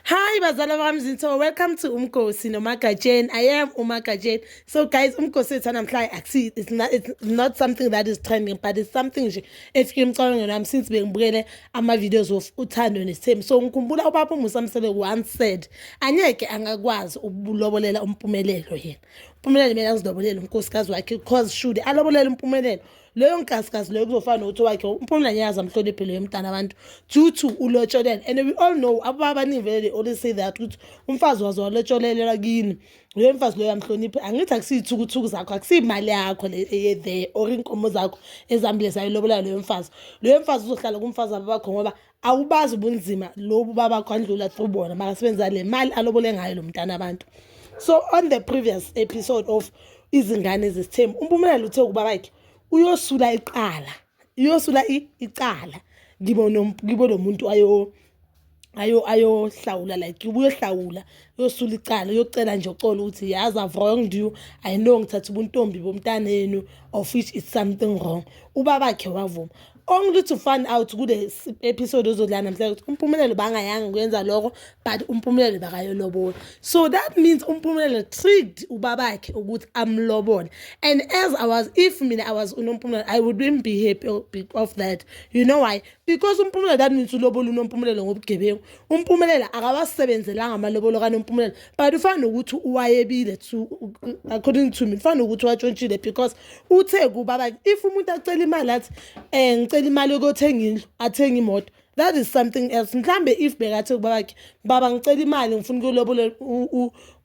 Hi bazala bami zinto welcome to umgosi nomagatsheni I am umagatsheni so guys umgosi wethu namhlanje akusi it's not it's not something that is trending but it's something nje efike emcabangweni wami since bengibukele ama videos of uthando nesithembu so ngikhumbula ubaba uMusa Msebe once said anyeke angakwazi ukulobolela umpumelelo yena umpumelelo mina azilobolele unkosikazi wakhe because should alobolele umpumelelo leyo nkasikasi leyo kuzofana nokuthi wakhe umphumela nyazi amhloniphe leyo mntana abantu due to ulotsholele and we all know ababa abaningi vele they always say that ukuthi umfazi waze walotsholelelwa kini loyo mfazi loyo amhloniphe angithi akusiyithukuthuku zakho akusiyimali yakho le eye there or inkomo zakho ezambile zayilobola loyo mfazi loyo mfazi uzohlala kumfazi ababakho ngoba awubazi ubunzima lobu baba kwandlula through bona makasebenzisa le mali alobole ngayo lo mntana abantu so on the previous episode of izingane zesithembu umpumelelo uthe ukuba bakhe uyosula iqala uyosula icala kibo kibo lo muntu ayo ayo ayohlawula like ubuyohlawula uyosula icala uyocela nje uxolo ukuthi yazi i've wronged you i know ngithatha ubuntombi bomntanenu of which is something wrong ubabakhe wavuma only to find out kule episode ozodlala namhlanje ukuthi umpumelelo bangayanga kuyenza lokho but umpumelelo bakayolobola so that means umpumelelo tricked ubabakhe ukuthi amlobole and as i was if mina i was unompumelelo i wouldn't be happy of that you know why because umpumelelo that means ulobola unompumelelo ngobugebengu umpumelelo akawasebenzelanga amalobolo kanompumelelo but ufana nokuthi wayebile to according to me ufana nokuthi watshontshile because uthe kuba like if umuntu acela imali athi um ngicela imali yokuyothenga indlu athenga imoto that is something else mhlambe if bekathe kuba bakhe baba ngicela imali ngifuna ukulobola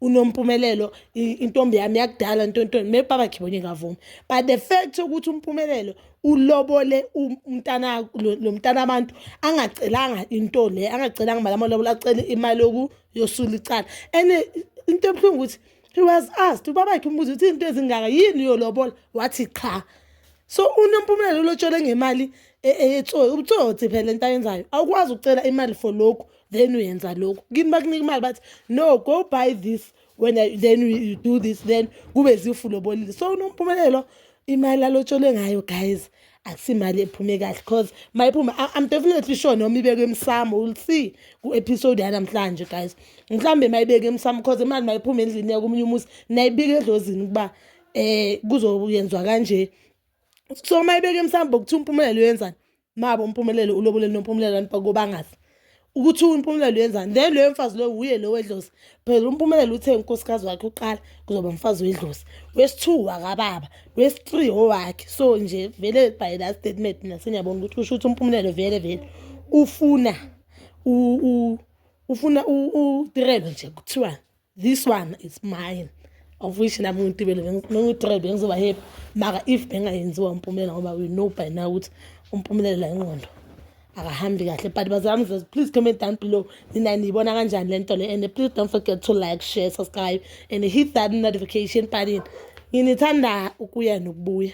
unompumelelo intombi yami yakudala ntontoni maybe baba khe bonye ngavumi but the fact ukuthi umpumelelo ulobole umntana lo mntana abantu angacelanga into le angacelanga imali amalobola acele imali yoku yosula icala and eh, into ebuhlungu ukuthi he was asked ubaba yakhe umbuza ukuthi izinto ezingaka yini yolobola wathi qha so unompumelelo lotshole ngemali e, e, etsoyi ubutsotsi phela into ayenzayo awukwazi ukucela imali for lokhu then uyenza lokhu kimi bakunika imali bathi no go buy this when I, then you do this then kube zifu lobolile so unompumelelo imali alotsholwe ngayo guys akusimali ephume kahle cause mayiphuma i'm definitely sure noma ibeke emsamo will see ku-episode yanamhlanje guys mhlawumbe mayibeke emsamo cause imali mayiphuma endlini yakomunye umuzi nayibika edlozini ukuba um kuzoyenzwa kanje so mayibeke emsambo kuthiwa umpumelelo yenzani mabo umpumelelo ulobole nompumelelo abantu bakobangazi ukuthi umpumelelo yenzani then loyo mfazi loyo wuye lo wedlozi phela umpumelelo uthe unkosikazi wakhe uqala kuzoba mfazi wedlozi wesi-two wakababa wesi-three owakhe so nje vele by that statement mina seniyabona ukuthi usho ukuthi umpumelelo vele vele ufuna ufuna udirelo nje kuthiwani this one is mine of which nami ngitibele bengiyi-three bengizoba happy maka if bengayenziwa umpumelela ngoba we know by now ukuthi umpumelela ingqondo akahambi kahle but bazami zes please comment down below nina niyibona kanjani le nto le and please don't forget to like share subscribe and hit that notification button nginithanda ukuya nokubuya